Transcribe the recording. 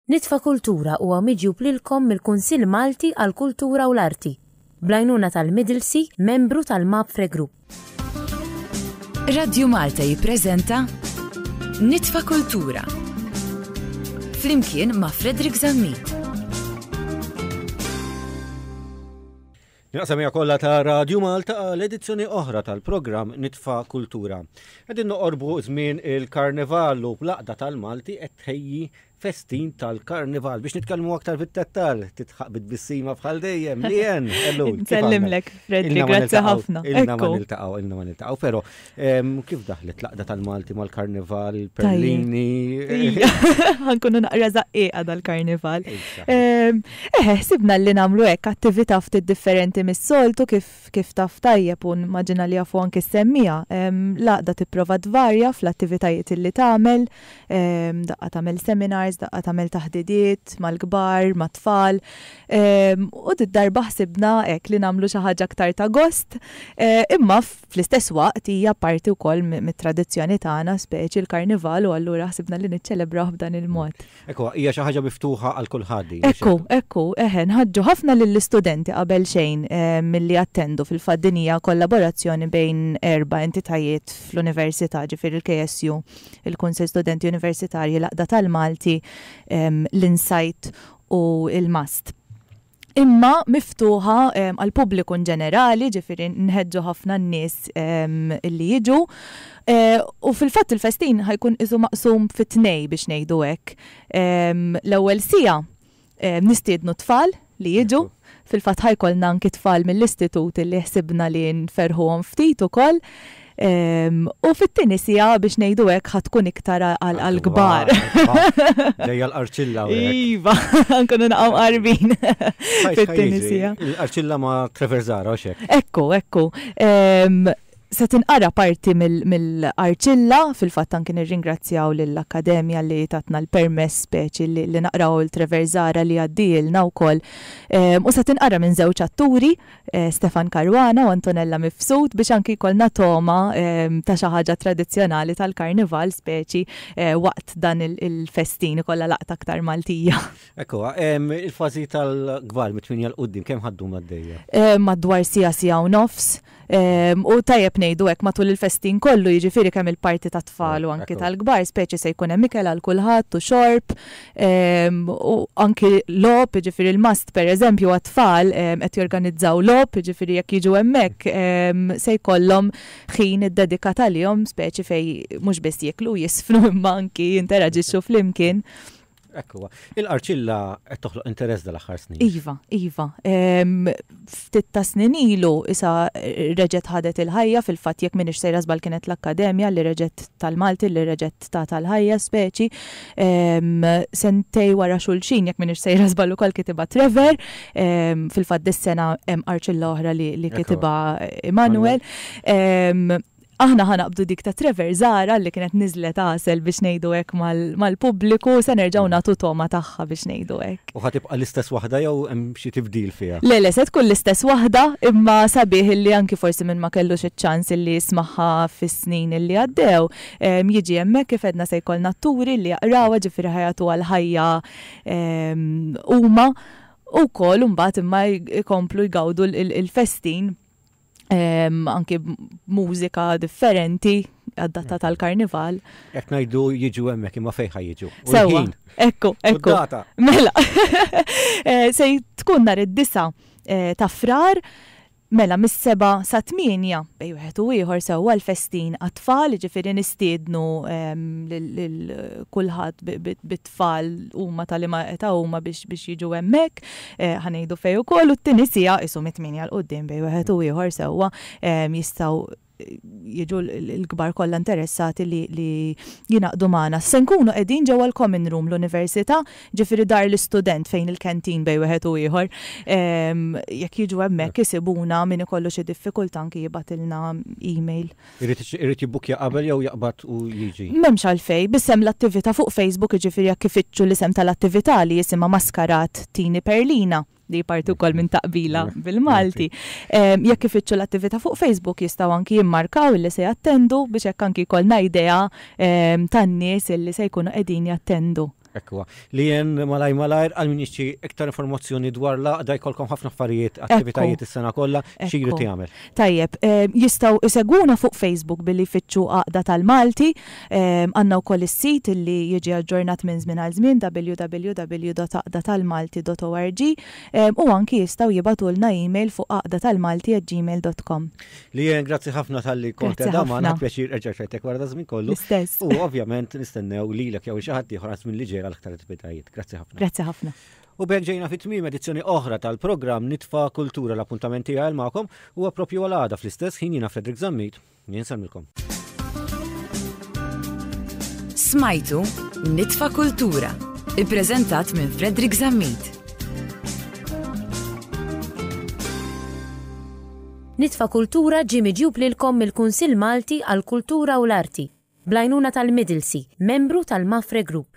Nitfa Kultura huwa miġjub lilkom mill-Kunsill Malti għall-Kultura u l-Arti, bl-għajnuna tal-Middlesea, membru tal-Mapfre Group. Radju Malta jippreżenta Nitfa Kultura flimkien ma' Frederick Zammit. Il-qasamija kollha ta' Radju Malta għal edizzjoni oħra tal-programm Nitfa' Kultura. Qegħdin noqorbu żmien il-Karnival u bl-Aqda tal-Malti qed tħejji festin tal-Karnival biex nitkellmu aktar fit-tettal titħaq bit-bissima bħal dejjem li jen. Nsellimlek, Fredri, grazzi ħafna. Ilna ma niltaqgħu, ilna ma niltaqgħu, però Kif daħlet laqda tal-Malti mal-Karnival, Perlini? Għankunu naqra zaqqieqa dal-Karnival. Eħe, sibna li namlu hekk attività ftit differenti mis-soltu kif taf tajjeb u maġina li jafu anki s-semmija. Laqda tipprova tvarja fl-attivitajiet li tagħmel, daqqa tagħmel seminars, daqqa tagħmel taħdidiet mal-kbar, mat-tfal. U did-darba ħsibna hekk li nagħmlu xi ħaġa aktar ta' gost, imma Fl-istess waqt hija parti wkoll mit-tradizzjoni tagħna, speċi l-Karnival u allura ħsibna li niċċelebrawh b'dan il-mod. Hekk huwa, hija xi ħaġa miftuħa għal kulħadd din. Hekk hu, hekk hu, eħe, nħaġġu ħafna lill-istudenti qabel xejn milli jattendu, fil-fatt din hija kollaborazzjoni bejn erba' entitajiet fl-Università, ġifieri l-KSU, il-Kunsill Studenti Universitarji, l-Għaqda tal-Malti, l-Insight u l-MAST. imma miftuħa għall-pubbliku inġenerali, jiġifieri nħeġġu ħafna n-nies illi jiġu. U fil-fatt il-festin ħa jkun qisu maqsum fi tnejn biex ngħidu hekk. L-ewwel siegħa nistiednu t-tfal li jiġu, fil-fatt ħa jkollna anki t-tfal mill-istitut illi ħsibna li nferrħuhom ftit ukoll. U fit-tieni siegħa biex ngħidu hekk ħad tkun iktar għall-kbar. Ġejja l-qarċilla. Iva, nkunu naqgħu qarbin fit-tieni siegħa. L-qarċilla ma' Trevor Zara u xek. Ekku, ekku. Se tinqara parti mill-arċilla, fil-fatt anki nirringrazzjaw lill-Akkademja li tatna l-permess speċi li naqraw il-Treverzara li għaddilna wkoll. U se tinqara minn żewġ atturi Stefan Caruana u Antonella Mifsud biex anki jkollna togħma ta' xi ħaġa tradizzjonali tal-karnival speċi waqt dan il-festin ikollha laqta aktar Maltija. Ekku, il-fażi tal-kbar mit-tminja l-qudiem kemm ħaddum għaddejja? Madwar siegħa siegħa u nofs. U tajjeb ngħidu hekk matul il-festin kollu jiġifieri kemm il-parti tat-tfal u anki tal-kbar speċi se jkun hemm ikel għal kulħadd u xorb, Ehm, u anki lob, ġifiri l-mast per eżempju għat-tfal ehm, qed jorganizzaw lob, ġifiri jekk jiġu hemmhekk ehm, se jkollhom ħin id-dedikat għalihom speċi fej mhux biss jiklu jisfnu imma anki jinteraġixxu flimkien. Ekkuwa. Il-qarċilla qed toħloq interess dal-aħħar snin. Iva, iva. ftit tas-snin ilu isa reġgħet ħadet il-ħajja, fil-fatt jekk m'iniex sejra żball kienet l-Akkademja li reġgħet tal-Malti li reġgħet tatha l-ħajja speċi. Sentej wara xulxin jekk m'iniex sejra żball ukoll kitibha Trevor, fil-fatt dis-sena hemm Arċilla oħra li kitibha Immanuel. Aħna ħa naqbdu dik ta' Trevor Zahra li kienet niżlet għasel biex ngħidu hekk mal-pubbliku u se nerġgħu nagħtu togħma tagħha biex ngħidu hekk. U ħa tibqa' l-istess waħda jew hemm xi tibdil fiha? Le le se tkun l-istess waħda imma sabiħ illi anki forsi min ma kellux iċ-ċans illi jismagħha fis-snin illi għaddew jiġi hemmhekk kif għedna se jkollna atturi illi jaqrawha ġifieri ħa jagħtuha l-ħajja huma u wkoll imbagħad imma jkomplu jgawdu l-festin anki mużika differenti għaddata tal-karnival. Ek najdu jiġu emmek imma fejħa jiġu. Sewa, ekku, ekku. Mela, eh, se tkun nar id-disa eh, ta' frar, Mela, mis-seba sa' tminja, bej wieħed u ieħor sewwa l-festin għat-tfal, ġifieri nistiednu ehm, lil kulħadd bit it-tfal huma ta' liema età huma biex biex jiġu hemmhekk, ħa ngħidu fejn ukoll, u t-tieni siegħa qishom it-tmienja 'l quddiem bejn wieħed u ieħor sewwa jistgħu jiġu l-kbar kollha interessati li li jingħaqdu magħna. Se nkunu qegħdin ġewwa l-Common Room l-Università, ġifieri dar l-istudent fejn il-canteen bejn wieħed u ieħor. Jekk jiġu hemmhekk isibuna min ikollu xi diffikultà anki jibgħatilna email. Irid jibbukkja qabel jew jaqbad u jiġi? M'hemmx għalfejn, b'isem l-attività fuq Facebook, jiġifieri jekk ifittxu l-isem tal-attività li isimha Maskarat Tini Perlina, li hi parti wkoll minn Taqbila bil-Malti, jekk ifittxu l-attività fuq Facebook jistgħu anki jimmarkaw illi se jattendu biex hekk anki jkollna idea tan-nies illi se jkunu qegħdin jattendu. Hekk huwa. Li jien malajr malajr għal min jixtri iktar informazzjoni dwar l-għaqda jkollkom ħafna affarijiet, attivitajiet is-sena kollha, xi jrid jagħmel? Tajjeb, jistgħu jsegwuna fuq Facebook billi jfittxu Għaqda tal-Malti. Għandna wkoll is-sit li jiġi aġġornat minn żmien għal żmien www.għaqdatalmalti.org u anki jistgħu jibgħatulna email fuq għaqdatalmalti@gmail.com. Li jen, grazzi ħafna tal-li kont edha maħna, pjaċir erġa xajtek wara da żmien kollu. Stess. U ovvjament nistennew li l-ek jaw xaħat tiħor minn li ġera l-aktar attivitajiet. Grazzi ħafna. Grazzi ħafna. U bekk ġejna fit tmim edizzjoni oħra tal-programm Nitfa Kultura l-appuntamenti għal ma'kom u għapropju għal għada fl-istess ħin jina Fredrik Zammit. Jinsalmilkom. Smajtu Nitfa Kultura, i-prezentat minn Fredrik Zammit. Nitfa' Kultura ġie miġjub lilkom mill-Kunsill Malti għall-Kultura u l-Arti, bl-għajnuna tal-Middlesey, membru tal-Mafre Group.